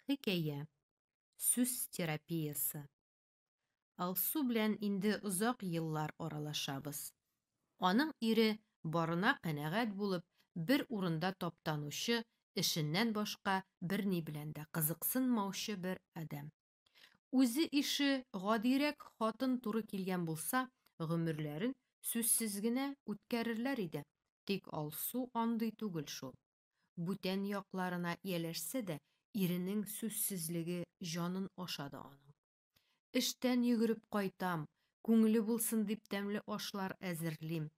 хикәя сүз терапиясы алсу белән инде озак еллар аралашабыз аның ире барына канәгать булып бер урында таптанучы эшеннән башка берни белән дә кызыксынмаучы бер адәм Үзе ише гадирәк хатын туры килгән булса, гомерләрен сүзсез генә үткәрерләр иде. Тик Алсу андый түгел шул. Бүтән якларына ияләшсә дә, иренең сүзсезлеге җанын ашады аның. Эштән йөгереп кайтам, күңеле булсын дип тәмле ашлар әзерлим.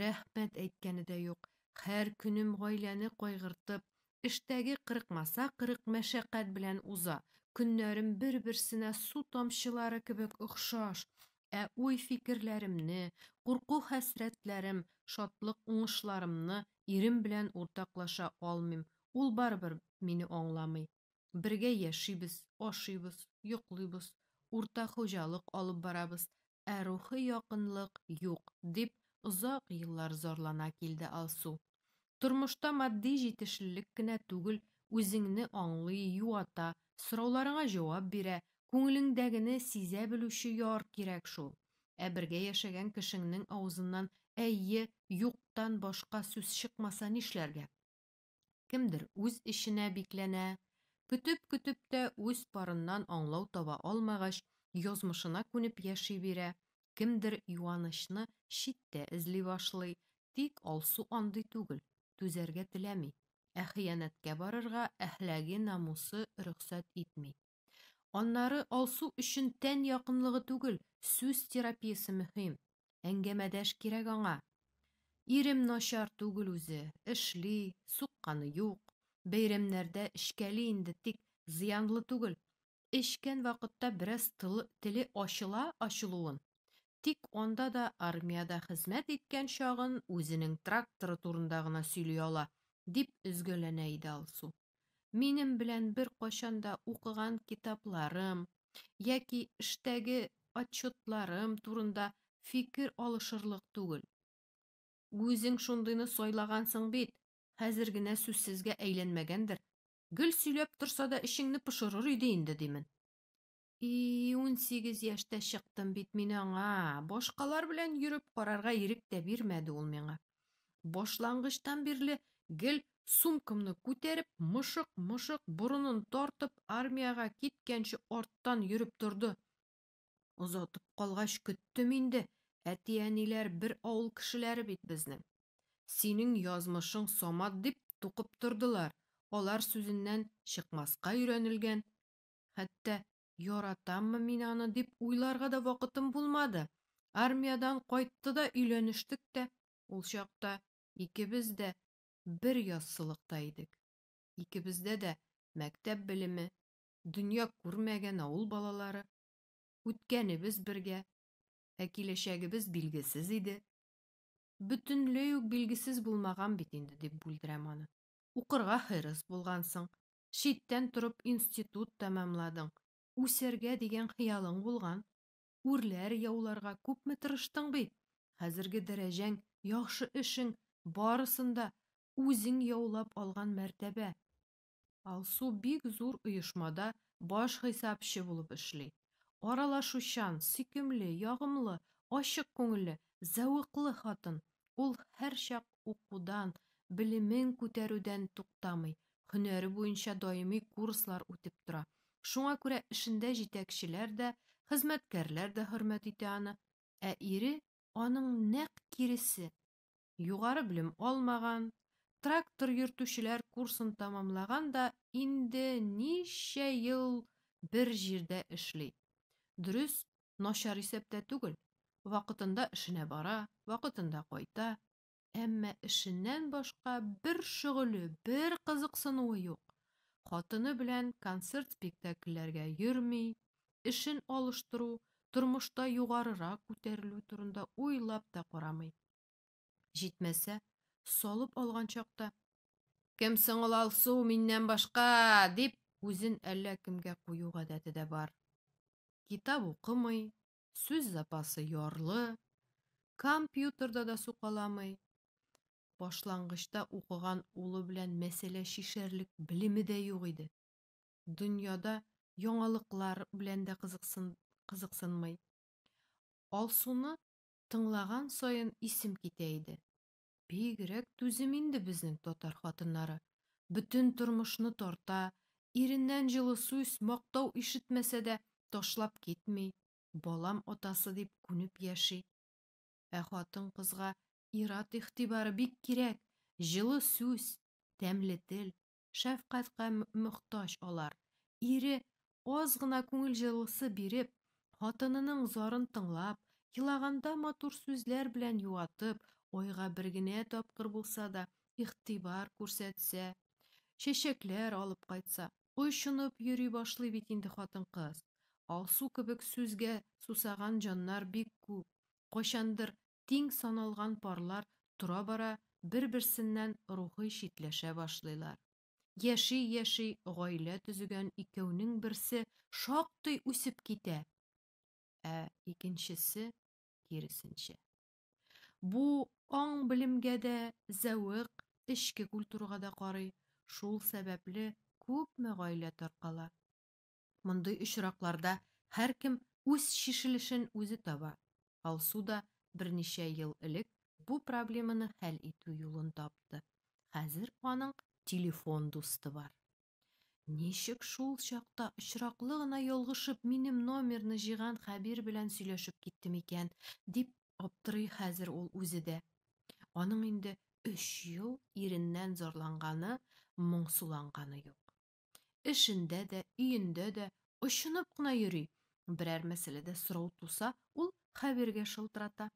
Рәхмәт әйткәне дә юк. Һәр көнем гаиләне кайгыртып, Эштәге кырыкмаса кырык мәшәкать белән уза, көннәрем бер-берсенә су тамчылары кебек охшаш, ә уй-фикерләремне, курку-хәсрәтләрем, шатлык-уңышларымны ирем белән уртаклаша алмыйм, ул барыбер мине аңламый. Бергә яшибез, ашыйбыз, йоклыйбыз, уртак хуҗалык алып барабыз, ә рухи якынлык юк, дип озак еллар зарлана килде Алсу. Тормышта матди җитешлелек кенә түгел, үзеңне аңлый, юата, сорауларыңа җавап бирә, күңелеңдәгене сизә белүче яр кирәк шул. Ә бергә яшәгән кешеңнең авызыннан әйе, юктан башка сүз чыкмаса нишләргә? Кемдер үз эченә бикләнә. Көтеп-көтеп тә үз парыннан аңлау таба алмагач, язмышына күнеп яши бирә. Кемдер юанычны читтә эзли башлый. Тик Алсу андый түгел, түзәргә теләми. Ә хыянәткә барырга әхләге, намусы рөхсәт итми. Аннары Алсу өчен тән якынлыгы түгел, сүз терапиясе мөһим. Әңгәмәдәш кирәк аңа. Ирем начар түгел үзе, эшли, сукканы юк. Бәйрәмнәрдә эчкәли инде, тик зыянлы түгел. Эчкән вакытта бераз теле ачыла ачылуын. Тик анда да армиядә хезмәт иткән чагын үзенең тракторы турында гына сөйли ала, дип өзгәләнә иде Алсу. Минем белән беркайчан да укыган китапларым яки эштәге отчетларым турында фикер алышырлык түгел. Үзең шундыйны сайлагансың бит, хәзер генә сүзсезгә әйләнмәгәндер. Гел сөйләп торса да эчеңне пошырыр иде инде, димен. И, унсигез яшьтә чыктым бит мин аңа. Башкалар белән йөреп карарга ирек тә бирмәде ул миңа. Башлангычтан бирле гел сумкамны күтәреп, мышык-мышык борынын тартып, армиягә киткәнче арттан йөреп торды. Озатып калгач көттем инде, әти-әниләр бер авыл кешеләре бит безнең. Синең язмышың Самат дип тукып тордылар, алар сүзеннән чыкмаска өйрәнелгән. Хәтта яратаммы мин аны дип уйларга да вакытым булмады. Армиядән кайтты да өйләнештек тә. Ул чакта икебез дә бер яссылыкта идек. Икебездә дә мәктәп белеме, дөнья күрмәгән авыл балалары. Үткәнебез бергә, ә киләчәгебез билгесез иде. Бөтенләй үк билгесез булмаган бит инде, дип бүлдерәм аны. Укырга хирыс булгансың, читтән торып институт тәмамладың, үсәргә дигән хыялың булган, үрләр яуларга күпме тырыштың бит, хәзерге дәрәҗәң, яхшы эшең, барысын да үзең яулап алган мәртәбә. Алсу бик зур оешмада баш хисапчы булып эшли. Аралашучан, сөйкемле, ягымлы, ачык күңелле, зәвыклы хатын. Ул һәрчак укудан, белемен күтәрүдән туктамый, һөнәре буенча даими курслар үтеп тора. Шуңа күрә эшендә җитәкчеләр дә, хезмәткәрләр дә хөрмәт итә аны. Ә ире аның нәкъ киресе. Югары белем алмаган, трактор йөртүчеләр курсын тәмамлаган да инде ничә ел бер җирдә эшли. Дөрес, Начар исәптә түгел, вакытында эшенә бара, вакытында кайта. Әмма эшеннән башка бер шөгыле, бер кызыксынуы юк. Хатыны белән концерт-спектакльләргә йөрми, эшен алыштыру, тормышта югарырак күтәрелү турында уйлап та карамый. Җитмәсә, салып алган чакта, Кем соң ул Алсу миннән башка? дип, үзен әллә кемгә кую гадәте дә бар. Китап укымый, сүз запасы ярлы, компьютерда да сукаламый. Башлангычта укыган улы белән мәсьәлә чишәрлек белеме дә юк иде. Дөньяда яңалыклар белән дә кызыксын, кызыксынмый. Алсуны Тыңлаган саен исем китә иде. Бигрәк түзем инде безнең татар хатыннары. Бөтен тормышны тарта, иреннән җылы сүз, мактау ишетмәсә дә, ташлап китми, балам атасы дип күнеп яши. Ә хатын-кызга ир-ат игътибары бик кирәк, җылы сүз, тәмле тел, шәфкатькә мохтаҗ алар. Ире, аз гына күңел җылысы биреп, хатынының зарын тыңлап, елаганда матур сүзләр белән юатып, айга бер генә тапкыр булса да игътибар күрсәтсә, чәчәкләр алып кайтса, очынып йөри башлый бит инде хатын-кыз. Алсу кебек сүзгә сусаган җаннар бик күп. Кайчандыр тиң саналган парлар тора-бара бер-берсеннән рухый читләшә башлыйлар. Яши-яши гаилә төзегән икәүнең берсе шактый үсеп китә, ә икенчесе киресенчә. Бу аң белемгә дә зәвык, эчке культурага да карый, шул сәбәпле күпме гаилә таркала. Мондый очракларда һәркем үз чишелешен үзе таба. Алсу да берничә ел элек бу проблеманы хәл итү юлын тапты. Хәзер аның телефон дусты бар. Ничек шул чакта очраклы гына ялгышып минем номерны җыйган Хәбир белән сөйләшеп киттем икән, дип аптырый хәзер ул үзе дә. Аның инде өч ел иреннән зарланганы, моңсуланганы юк. Эшендә дә, өендә дә очынып кына йөри. Берәр мәсьәләдә сорау туса, ул Хәбиргә шылтырата.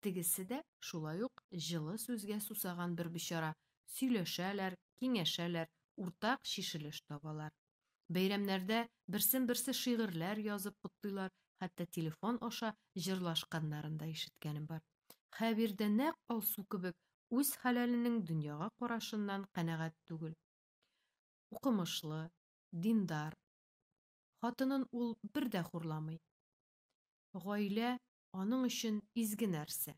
Тегесе дә шулай ук җылы сүзгә сусаган бер бичара, сөйләшәләр, киңәшәләр, уртак чишелеш табалар. Бәйрәмнәрдә берсен-берсе шигырьләр язып котлыйлар, хәтта телефон аша җырлашканнарын да ишеткәнем бар. Хәбир дә нәкъ Алсу кебек үз хәләленең дөньяга карашыннан канәгать түгел. Укымышлы, диндар. Хатынын ул бер дә хурламый. Гаилә аның өчен изге нәрсә.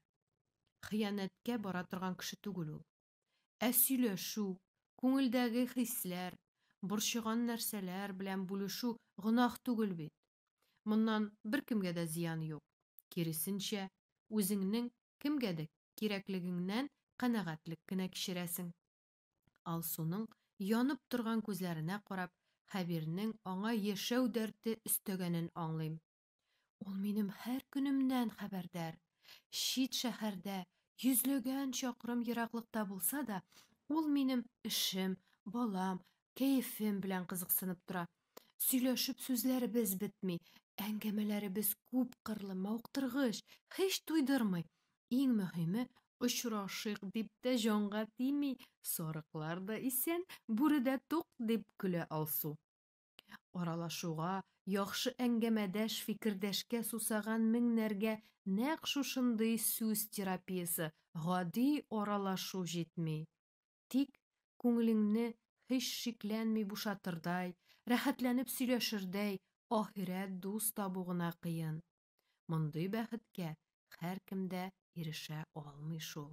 Хыянәткә бара торган кеше түгел ул. Ә сөйләшү, күңелдәге хисләр, борчыган нәрсәләр белән бүлешү гөнаһ түгел бит. Моннан беркемгә дә зыян юк. Киресенчә, үзеңнең кемгәдер кирәклегеңнән канәгатьлек кенә кичерәсең. Алсуның янып торган күзләренә карап, Хәбирнең аңа яшәү дәрте өстәгәнен аңлыйм. Ул минем һәр көнемнән хәбәрдар. Чит шәһәрдә, йөзләгән чакрым ераклыкта булса да, ул минем эшем, балам, кәефем белән кызыксынып тора, Сөйләшеп сүзләребез бетми, әңгәмәләребез күпкырлы, мавыктыргыч, һич туйдырмый. Иң мөһиме, очрашыйк дип тә җанга тими, сарыклар да исән, бүре дә тук, дип көлә Алсу. Аралашуга, яхшы әңгәмәдәш, фикердәшкә сусаган меңнәргә нәкъ шушындый сүз терапиясе, гади аралашу җитми. Тик күңелеңне һич шикләнми бушатырдай, рәхәтләнеп сөйләшердәй ахирәт дус табу гына кыен. Мондый бәхеткә һәркем дә ирешә алмый шул.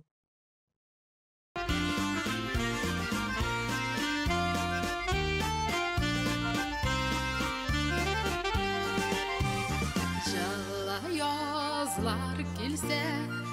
Җылы язлар килсә,